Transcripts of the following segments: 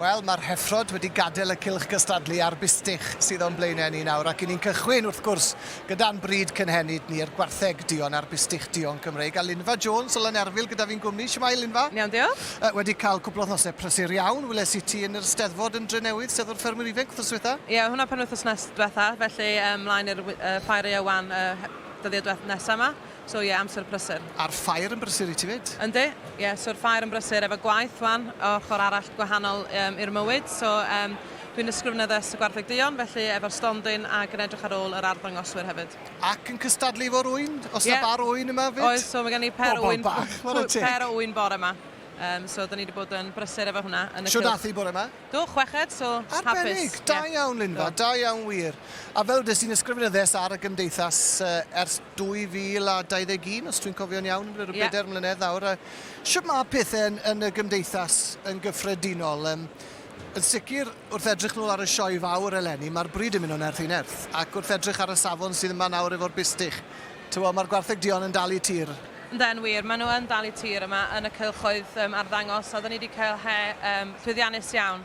Wel, mae'r heffrod wedi gadael y cylch gystadlu a'r bustych sydd o'n blaenau ni nawr ac 'yn ni'n cychwyn, wrth gwrs, gyda'n bryd cynhenid ni'r gwartheg duon a'r bustych duon Cymreig a Linfa Jones o Lanerfyl gyda fi'n gwmni. Shwmae, Linfa? Yn iawn, diolch. Yy, wedi cael cwpl o wythnosau prysur iawn, weles i ti yn yr Steddfod yn Drenewydd, Steddfod Ffermwyr Ifainc, wythnos ddiwetha'? Ie, oedd hwnna penwythnos nes- dwetha', felly yy 'mlaen i'r wy- yy ffair Ieuan yy he- dyddiau dweth- nesa' 'ma. So ie, amser prysur. A'r ffair yn brysur i ti 'fyd? Yndi, ie, so'r ffair yn brysur efo gwaith 'wan, ochr arall gwahanol yym i'r mywyd, so yym dwi'n ysgrifennu addysg y Gwartheg Duon, felly efo'r stondin ac yn edrych ar ôl yr arddangoswyr hefyd. Ac yn cystadlu efo'r ŵyn? Oes 'na bar ŵyn yma 'fyd? Oes, so mae gen i pêr o ŵyn... Pobol bach, chwarae teg! ...pêr o ŵyn bore 'ma, yym so 'dan ni 'di bod yn brysur efo hwnna yn y cylch. Shwd ath 'i bore 'ma? Do, chweched, so hapus. Arbennig! Da iawn, Linfa, da iawn wir. A fel dys i'n ysgrifenyddess ar y Gymdeithas ers 2021, os dwi'n cofio'n iawn, yn rhyw bedair mlynedd nawr. Shwt mae pethe yn y Gymdeithas yn gyffredinol? Yn sicr, wrth edrych nôl ar y Sioe Fawr eleni, mae'r bryd yn mynd o nerth i nerth. Ac wrth edrych ar y safon sydd yma nawr efo'r bustych, Tibod, mae'r gwartheg duon yn dal i tir. Ynde, yn wir, maen nhw yn dal i tir yma yn y cylchoedd arddangos, a oedden ni wedi cael he llwyddiannus iawn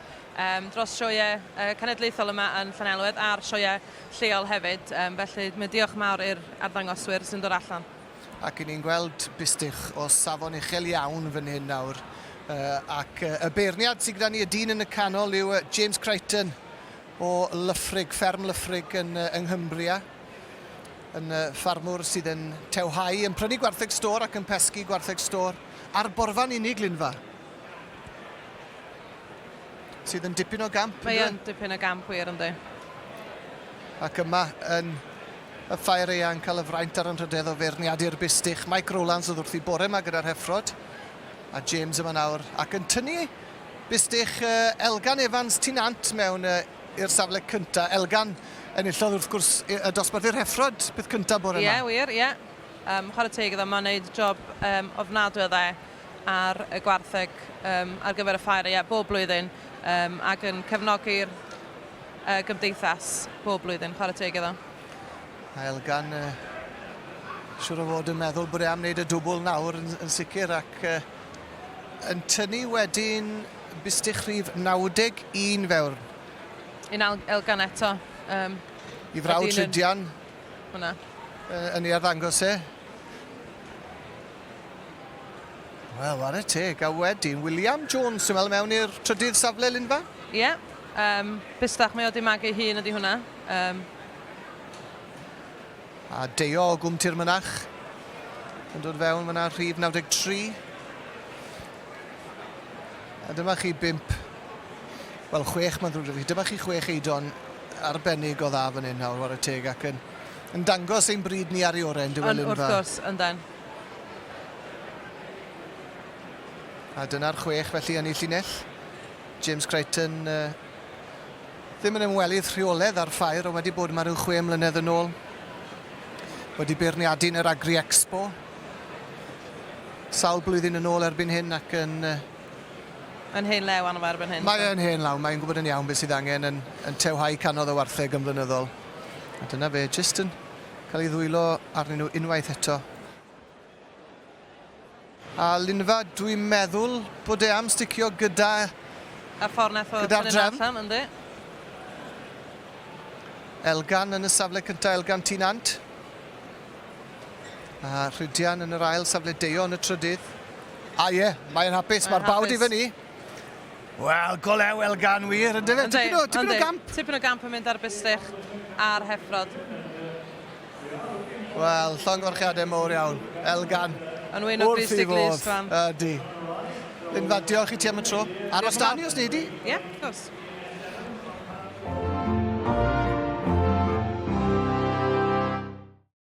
dros sioeau cenedlaethol yma yn Llanelwedd a'r sioeau lleol hefyd, felly mae diolch mawr i'r arddangoswyr sy'n dod allan. Ac 'yn ni'n gweld bistych o safon uchel iawn fan hyn nawr, ac y beirniad sydd gyda ni, y dyn yn y canol, yw James Crichton o Lyffrig, fferm Lyffrig yn Nghymbria. yn y ffarmwr sydd yn tewhau, yn prynu gwartheg stôr ac yn pesgi gwartheg stôr ar borfa'n unig, Linfa. Sydd yn dipyn o gamp. Mae yn dipyn o gamp wir ynddi. Ac yma yn y ffair eang cael y fraint ar anrhydedd o feirniadu'r bustych. Mike Rowlands oedd wrth i bore yma gyda'r heffrod. A James yma nawr ac yn tynnu bustych Elgan Evans Tinant mewn i'r safle cynta. Elgan enillodd wrth gwrs y dosbarth i'r Heffrod peth cynta bore 'ma. Ie wir, ie. Yym chware teg iddo, mae'n neud job yym ofnadwy o dda ar y gwartheg yym ar gyfer y ffair ie bob blwyddyn yym ac yn cefnogi'r yy gymdeithas bob blwyddyn, chware teg iddo. Mae Elgan yy siŵr o fod yn meddwl bod e am neud y dwbwl nawr yn yn sicr ac yy yn tynnu wedyn Bistych rhif 91 fewrn. Un ail elgan eto. Um, I frawd Tridian. Hwna. Uh, yn ei arddangos e. Wel, war y teg. A wedyn, William Jones, sy'n meddwl mewn i'r trydydd safle, Linfa? Ie. Yeah. Um, bistach, mae o di magu hun ydi hwnna. Um. A deio o gwmti'r mynach. Yn dod fewn fyna rhif 93. A dyma chi bump, wel chwech mae'n ddrwg 'da fi, dyma chi chwech eidon arbennig o dda fan hyn nawr, ware teg, ac yn, yn dangos ein bryd ni ar ei orau yn Dywelyn Fawr. Yn wrth gwrs, yndan. A dyna'r chwech felly yn ei llinell. James Crichton uh, ddim yn ymwelydd rheoledd â'r ffair, ond wedi bod yma rhyw chwe mlynedd yn ôl. Wedi beirniadu yn yr Agri Expo, Sawl blwyddyn yn ôl erbyn hyn ac yn... Mae'n hen law arno fo erbyn hyn. Mae e'n hen law, mae'n gwybod yn iawn beth sydd angen yn, yn tewhau canodd y wartheg yn flynyddol. A dyna fe, jyst yn cael ei ddwylo arnyn nhw unwaith eto. A Linfa, dwi'n meddwl bod e am sticio gyda... A ffordd nath o gyda'r drefn. Allan, ynddi. Elgan yn y safle cyntaf, Elgan Tîn Ant. A Rhydian yn yr ail safle, Deio yn y trydydd. A ie, mae'n hapus, mae'r bawd i fyny. Wel, golew elgan wir, ynddo fe? Tipyn o, tipyn o gamp. Tipyn o gamp yn mynd ar bistych a'r heffrod. Wel, llongyfarchiadau mowr iawn. Elgan. Yn wyn o bistych Liz Fran. Ydy. Linfa, diolch i ti am y tro. Aros da ni os neud i. Ie, yeah, of course.